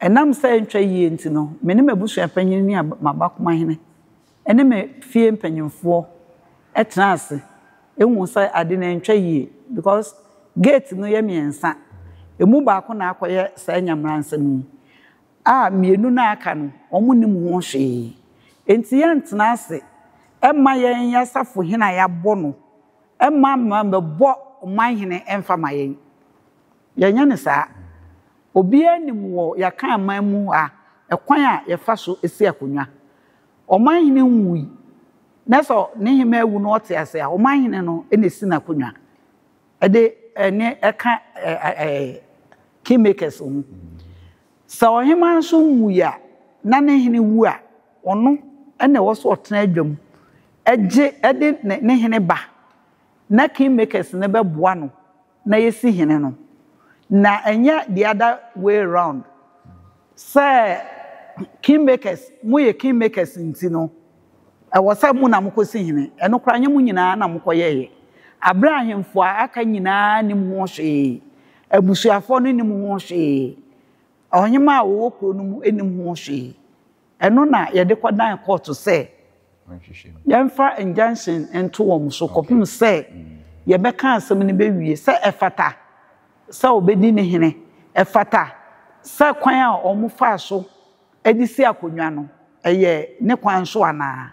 Ɛnam sɛ ɛntwa yie nti no, me ne m'abusua panyin ne m'abakomahene ne me fie mpanyimfoɔ tenaa ase huu sɛ ade no antwa yie because gate no yɛ mmiɛnsa. Ɛmu baako na akɔyɛ saa anyamransɛm yi a mmienu no a aka no, wɔnnim ho hwee. Enti yɛantena ase mma yɛn yɛn asafohene a yɛabɔ no mma mma mmɛbɔ ɔmanhene mfa mma yɛn. Yɛnyɛ no saa. Obiara nim wɔ Yɛakan man mu ha ɛkwan a yɛfa so si akonnwa. Ɔmanhene nwui, na sɛ ne hemmaa wu na ɔte ase a, ɔmanhene no na esi n'akonnwa. Ɛde ɛnne ɛka kingmakers ho. Sɛ ɔhemmaa nso nwui a, na ne hene wu a, ɔno na ɛwɔ sɛ ɔtena adwam gye de ne hene ba na kingmakers no bɛboa no na yɛasi hene no, na ɛnyɛ the other way round, sɛ kingmakers, moyɛ kingmakers nti no, ɛwɔ sɛ mo na mokɔsi hene. Ɛno koraa ɛnyɛ mo nyinaa na mokɔyɛeɛ. Aberɛ a ahemfo a aka nyinaa nnim ho hwee, abusuafoɔ no nnim ho hwee, ɔhemmaa a ɔwɔ kuro no mu nnim ho hwee. Ɛno na yɛde kɔdan kɔɔto sɛ yɛmfa injunction nto wɔn so kɔpem sɛ yɛbɛka asɛm no bɛwie, sɛ ɛfata sɛ ɔbɛdi ne hene, ɛfata sɛ kwan a wɔfaa so de si akonnwa no, ɛyɛ ne kwan so anaa.